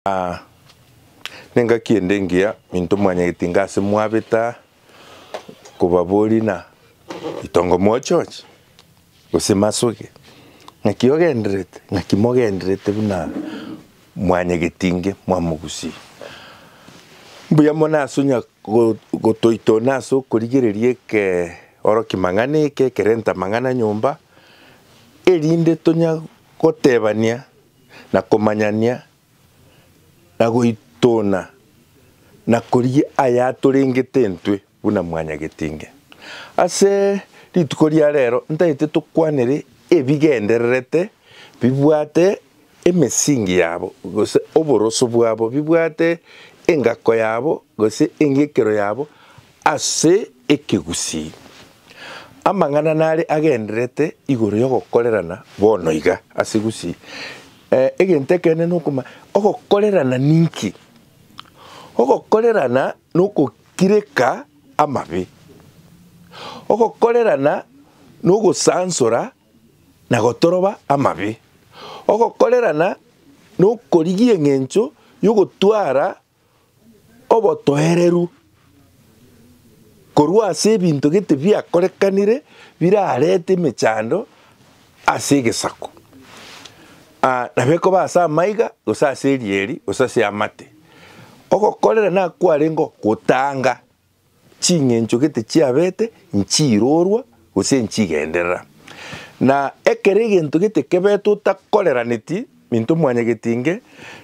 Aa, nengaki ende engiya minto mwanyagete inga ase mwabeta kobabori na ritongo mochoche, gose masoge, ng'aki ogendererete, ng'aki mogendererete buna mwanyagete inge mwamogusie. Mbuya mono ase onya gotoitona ase okorigereria eke oro kimang'ana eke ekerenta amang'ana nyomba, erinde tonya gotebania. na komanyania, na goitona, na korigia ayatorengete intwe buna mwanyagetinge. Ase rituko ria reero ntaete tokwanere ebigendererete bibwate emesingi yabo gose oboroso bwabo, bibwate engako yabo gose engekero yabo, Ase ekegusii, amang'ana nare agendererete igoro y'ogokorerana bono iga, ase egusii, egento ekeene nokoma, ogokorerana ninki? Ogokorerana nogokireka amabe. Ogokorerana nogosansora na gotoroba amabe. Ogokorerana nokorigia eng'encho yogotwara obotoereru korwa ase ebinto gete biakorekanire birarete emechando ase egesaku. Nabo ekoba ase amaiga, gose ase erieri, gose ase amate. Ogokorera nakwarenge ogotanga. ching'encho gete chiabete nchiirorwa gose nchigenderera. Na ekero egento gete kebetwe otakoreraneti into mwanyagetinge,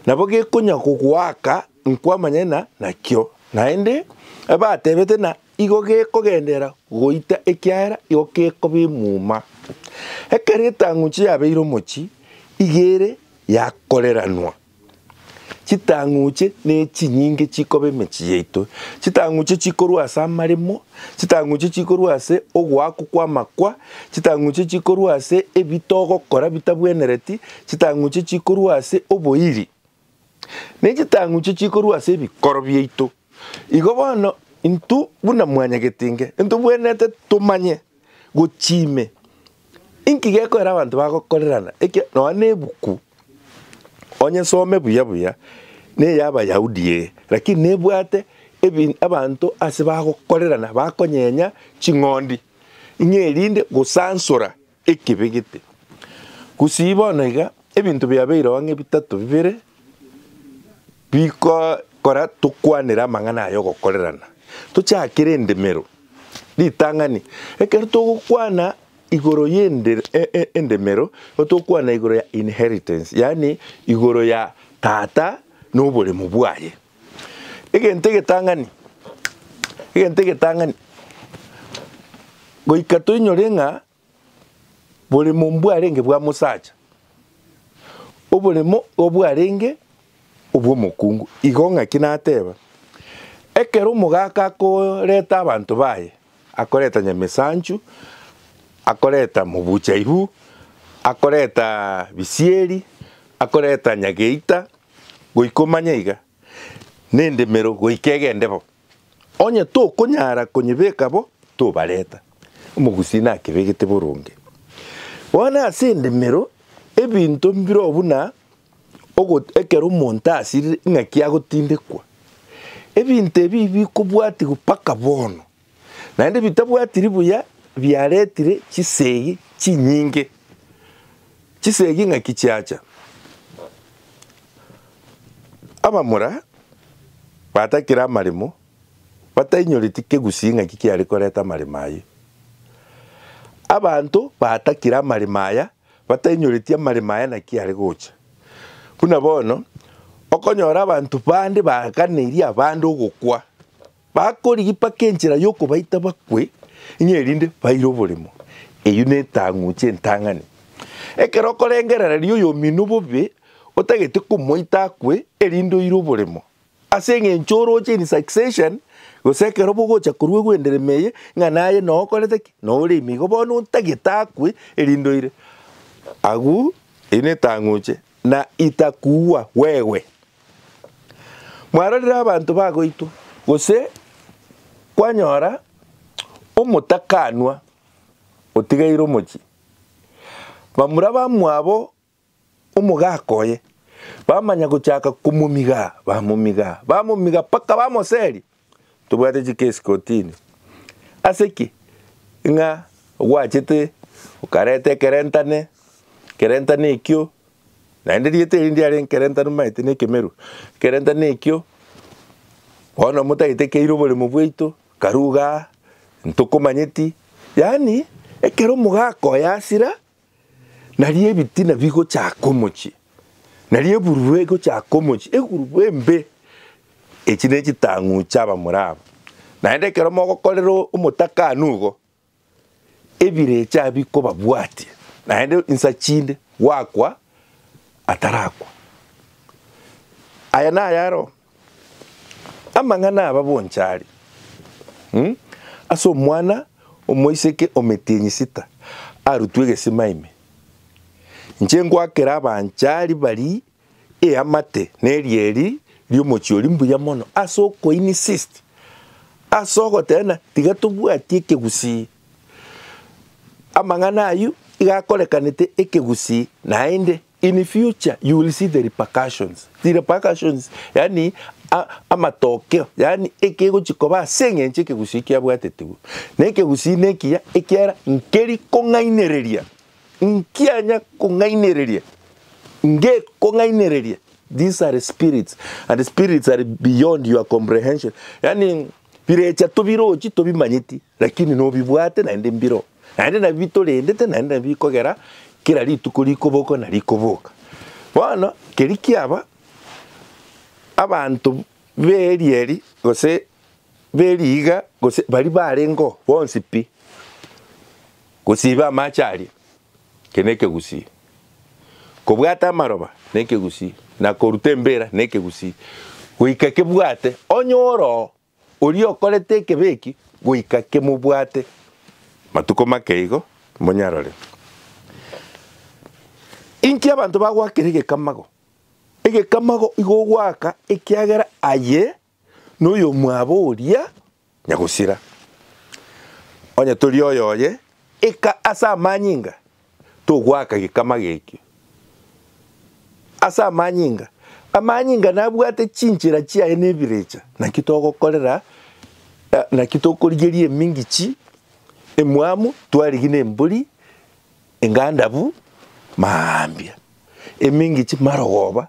nabo gekonya kogoaka nkwamanyana nakio, naende ebatebete na igo gekogenderera goita ekiagera igo gekoba emuma. Ekero etang'unche yabeire omochi, iga ere yakoreranwa. Chitang'uche nechinyinge chikoba emechie yaito, chitang'uche chikorwa ase amaremo, chitang'uche chikorwa ase ogoakwa kw'amakwa, chitang'uche chikorwa ase ebi togokora bitabwenereti, chitang'uche chikorwa ase oboiri, ne chitang'uche chikorwa ase ebikoro biaito. Igo bono intwe buna mwanyagetinge, intobwenerete tomanye Gochia ime, inki gekoera abanto bagokorerana? Ekiagera nonya nebuku, onye some buya buya, neye Abayahudi ee, lakini nebwate ebi abanto ase bagokorerana bakonyenya ching'ondi, ng'a erinde gosansora ekibe gete. Gusii bono iga, ebinto biabeireo ang'e bitato bibere. Bikogokora tokwanere amang'ana aya ogokorerana, tochakere endemero. Ritang'ani, Ekero togokwana igoro y'endemero, nigo togokwana igoro ya inheritance, yaani igoro ya tata na oboremu bwaye. Egento egetang'ani, egento egetang'ani, goika toinyore ng'a Boremo mbwarenge bwa mosacha, oboremo obwarenge obw'omokungu. Igo ng'aki nateba, Ekero omogaka akoreta abanto baye, akoreta nyamesanchu, akoreta mobuchaibu, akoreta bisieri, akoreta nyageita, goika omanye iga, nendemero goika egende bo. Onye tokonyara konyebeka bo, tobareta. Omogusii nakebegete boronge. Bono ase endemero ebinto mbirobwo buna ogot ekero omonto asirire ing'aki agotindekwa. Ebinto ebi bikobwatigwa mpaka bono, naende bitabwatiri buya biaretire chisegi chinyinge. Chisegi ng'aki chiacha, abamura batakire amaremo batainyoreti kegusii ng'aki kiare koreta amaremo ayio. Abanto batakire amaremo aya batainyoreti amaremo aya naki are gocha. Buna bono okonyora abanto bande baganeiri abande ogokwa. Bakorigia mpaka enchera y'okobaita bakwe, ng'a erinde baire oborimo. Eyio netang'uche entang'ani. Ekero okorengerereria oyomino bobe, otagete komoita akwe, erinde oire oborimo. Ase engencho oroche in succession, gose ekero bogocha korwa egenderema eye, ng'a naye noo okorete ki? Noo ore ime igo, bono otagete akwe, erinde oire. Agwo, eyio netang'uche, na itakuua wewe. Mwarorire abanto bagoitwa, gose kwanyora omotakanwa otigaire omochie, bamura bamwabo omogaka oye bamanya gochaka komomigaa, bamomigaa, bamomigaa mpaka bamoseria. Tobwate chikesi kotini. Ase ki? Ng'a gwachete okareta ekerentane, ekerentane ekio, naende rieta erio ndiare nkerentane omanyete na ekemeru, ekerentane ekio bono motagete keire oboremo bwaito, karuga aa, ntokomanyeti, yaani ekero omogaaka oye asira, Nario ebitina bigochaka omochie, nario ebururu egochaka omochie, egurubu embe. Echi nechitang'u chi'abamura aba. Naende ekero mogokorera omotakano igo, ebirecha bikobabwatia, naende insa chinde gwakwa atarakwa. Aya nayaroo. Amang'ana aba bonsi are ase omwana omoiseke ometienyi sita arutwe egesima ime. Inche ngoakera abanchari baria eamate na erieri ri'omochie oria mbuya mono ase okoinsist ase ogoteba ng'a tiga tobwati ekegusii. Amang'ana ayio iga akorekanete ekegusii naende. In future you will see the repercussions, the repercussions yaani amatokeo yaani ekegochia koba ase eng'encho ekegusii kiabwatetigwe. Na ekegusii nekiya ekiara nkeri kong'ainereria, nkianya kong'ainereria, ngekong'ainereria. These are spirits and spirits are beyond your comprehension yaani. Birecha tobirochi tobimanyeti, lakini nobibwate naende mbiro, naende nabio bitorendete naende nabio bikogera kera rituko rikobokwa na rikoboka. Bono keri kiaba, abanto b'eria eri gose b'eriiga gose baria barengeo bonsi pi, gosiba amache aria, keri nekegusii. Kobwata amaroba nekegusii, na koruta embira nekegusii, goika kebwate onye oroo oria okorete ekebe eki goika kemobwate matuko make igo monyarore. Inki abanto bagwakera egekamago? Egekamago igo ogwaka ekiagera aye noyomwabo oria nyagosira. Onye tori oyoye, ika ase amanyinga togoaka gekama gekio. Ase amanyinga, amanyinga nabwate chinchera chiaye na ebirecha. Naki togokorera, naki tokorigeria emingichi emwamu twarigi nembori engandabu, maambia, emingichi marogoba.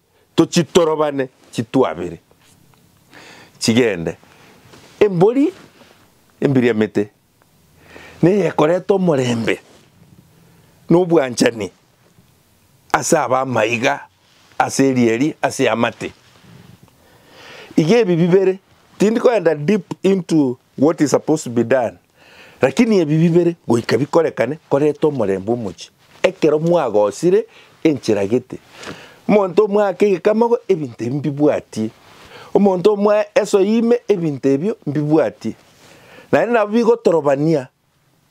Tochitorobane chitwabere chigende. Embori embiriamete neyekoreta omorembe na obwanchani ase abamaiga ase erieri ase amate. Iga ebi bibere, tindi koenda deep into What is supposed to be done? Lakini ebi bibere goika bikorekane koreta omorembe omochie, ekero mwagosire enchera gete. Omonto omwake egekamago ebinto ebi mbibwatie, omonto omoe esoe ime ebinto ebio mbibwatie. Naende nabo bigotorobania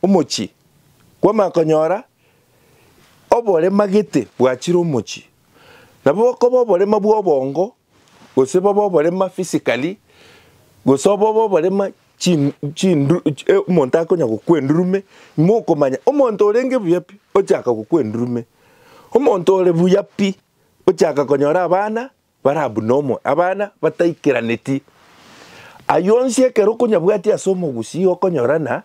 Omochie bw'Amakonyora oborema gete bwachire omochie, nabo bokoba oborema bw'obongo, gose bobe oborema physically, gose obobe oborema chi chindu omonto akonya gokwa endurume, mokomanya omonto orenge buya pi ochaka gokwa endurume, omonto ore buya pi ochaka konyora abana Bara buna omoe, abana bataikeraneti. Aye onsi ekero okonyabwatia ase omogusii okonyora na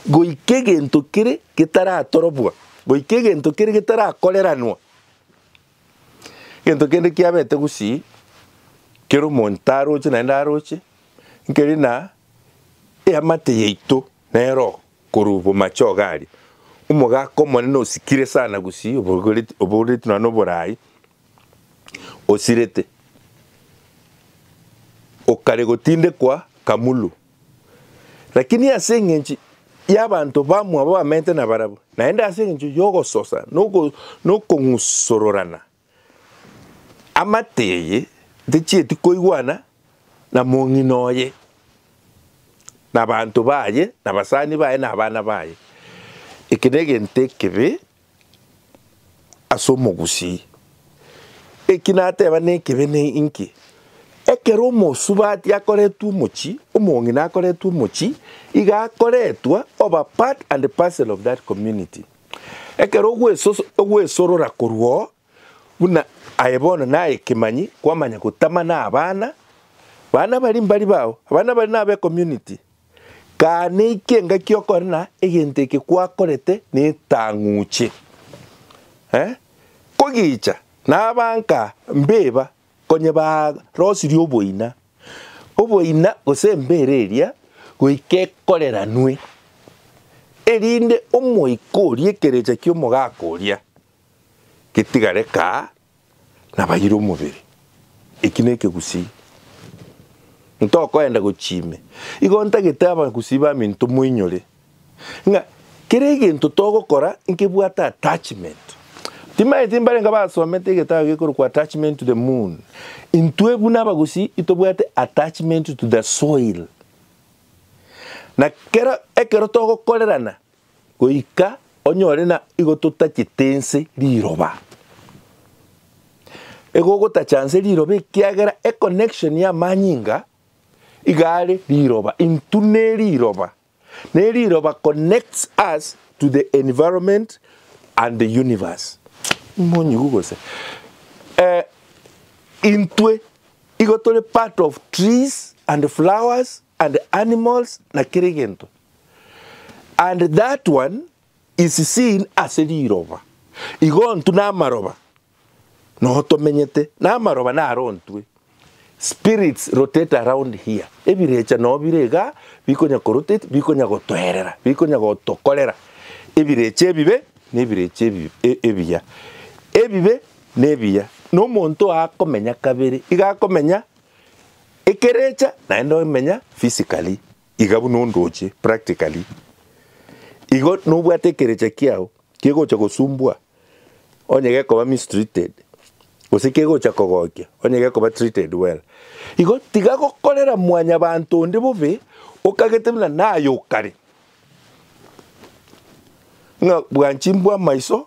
goika egento kere getaratorobwa, goika egento kere getarakoreranwa. Egento kende kiabete gusii kero omonto aroche naende aroche nkeri na eamate yaito nero korwa bomache ogaria. Omogaka omonene osikire sana gusii obogoret obogoretu nonya na oborai osirete, okare gotindekwa Kamulu. Lakini ase engencho y'abanto bamwabo bamenyete nabarabwo, naende ase engencho y'ogososa na okong'usororana, amate eye techieti koigwana na mong'ina oye, nabanto baye, nabasani baye, nabana baye. Eke negento ekebe ase omogusii. Eki nateba nekebe ne inki, ekero omosubati akoretwe omochie, omong'ina akoretwe omochie, iga akoretwa oba part and parcel of that community. Ekero ogwesoso ogwesorora korwa oo, buna aye bono naye ekemanyi, kwamanya gotama na abana, bana baria mbari bao, abana baria nabe community, Kane iki engaki okore na egento eke kwakorete netang'uche, eh, kogicha nabanka mbeba konye barosirie oboina, oboina gose embera eria goika ekoreranwe, erinde omoika oria ekerecha ki'omogaka oria getiga reka nabayire omobere. Eki nekegusii. Ntokoenda gochia ime. Igo ntagete abagusii baminto moinyore ng'a kera egento togokora nkebwate attachment. Timanyeti mbarenge abasomete egetabu gekorokwa Attachment to the Moon. Intwe buna abagusii itobwate attachment to the soil. Na kera ekero togokorerana goika onyore na igo totachete nse riroba. Igo ogotacha nse riroba ekiagera econnection ya amanyinga iga are riroba into ne riroba, ne riroba connects us to the environment and the universe. Monyigu gose? Eh, intwe igo tore part of trees and flowers and animals na kera egento, and that one is seen ase riroba, igo ntu namaroba noho tomenyete, namaroba naro ntwe, spirits rotate around here, ebirecha noyo bire iga bikonya ko rotate, bikonya gotoerera, bikonya gotokorera ebirecha ebibe na ebirecha ebi ebiya, ebibe na ebiya, na omonto akomenya kabere, iga akomenya Ekerecha naende omenya physically iga buna ondoche practically. Igo nobwate ekerecha kiao kegocha gosumbua onye gekoba mistreated gose kegocha kogokia onye gekoba treated well. Igo tiga gokorera mwanyabanto onde bobe okagete buna naye okare. Ng'a bwanchimbwa amaiso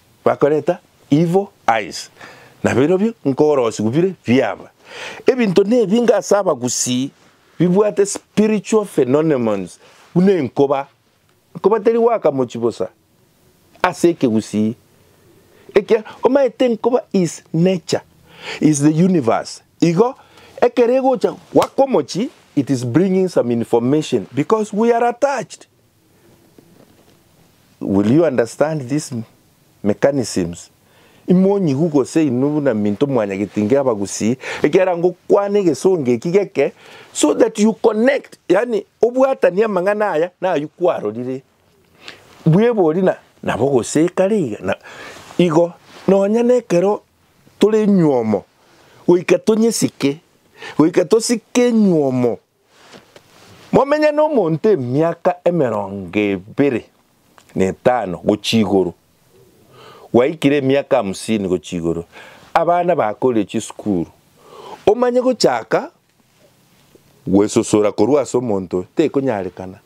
Bakoreta evil eyes, na birobio nkorosigwa bire biaba. Ebinto nebinge ase abagusii bibwate spiritual phenonemons buna enkoba. Enkoba teri goaka mochie bosa ase ekegusii. Ekia omaete enkoba is nature, is the universe. Igo ekero egocha goaka omochie it is bringing some information because we are attached. Will you understand these mechanisms? Imonyigu gose inwe buna minto mwanyageti inga abagusii, ekiagera ngokwana egesongo eki geke so that you connect, yaani obwatanie amang'ana aya nayio kwarorire. Bwebori na nabo gose kare iga na igo nonya nekero tore nywomo goika tonyesike, goika tosike nywomo. Momenye nomonto emiaka emerongo ebere na etano gochia igoro, gwaikire emiaka hamsini gochia igoro, abana bakorire chisukuru, omanye gochaka gwesosora korwa ase omonto oyo tekonyarekana.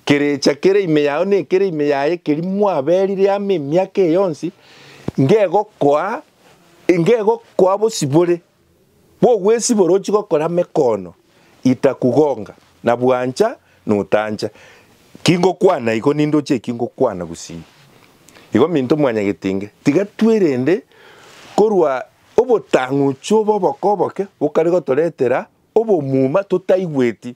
Kerecha kere ime yao nekere ime yaye keria mwaberire amo emiaka eye yonsi, ngegokoa, ngegokoa bosibore. bw'ogwesibora ochie gokora mekoono itakugonga, na bwancha notancha. Kingokwana igo nindoche eki ngokwana gusii. Igo minto mwanyagetinge, tiga twerende korwa obotang'uchi obo oboko oboke bokare gotoretera obomuma totaigweti.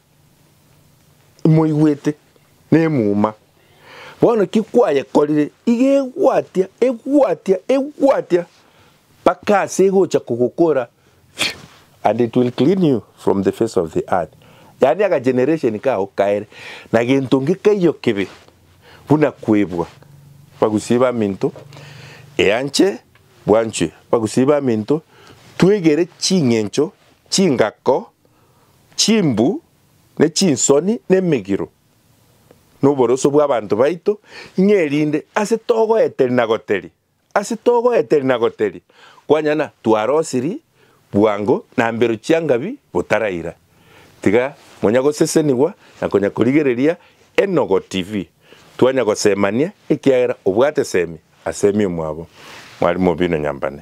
Moigwete, nemuma. Bono ki kwayekorire? Iga egwatia, egwatia, egwatia, mpaka ase egocha kogokora fiu, and it will clean you from the face of the earth. Yaani aka generation kao kaere na gento ngekaiyo kebe buna kwebwa. Bagusii baminto, eanche bwanchwe. Bagusii baminto, twegere ching'encho, chingako, Chimbu, ne chinsoni, na emegiro, na oboroso bw'abanto baito, ng'a erinde ase togoeteria na goteria, ase togoeteria na goteria, kwanyana twarosiri bwango na mbero chiangabi botaraira. Tiga monya gosesenigwa na konya korigereria Enogo TV, twanya gosemania ekiagera obwate semi asemi omwabo. Mwarimu bino nyambane.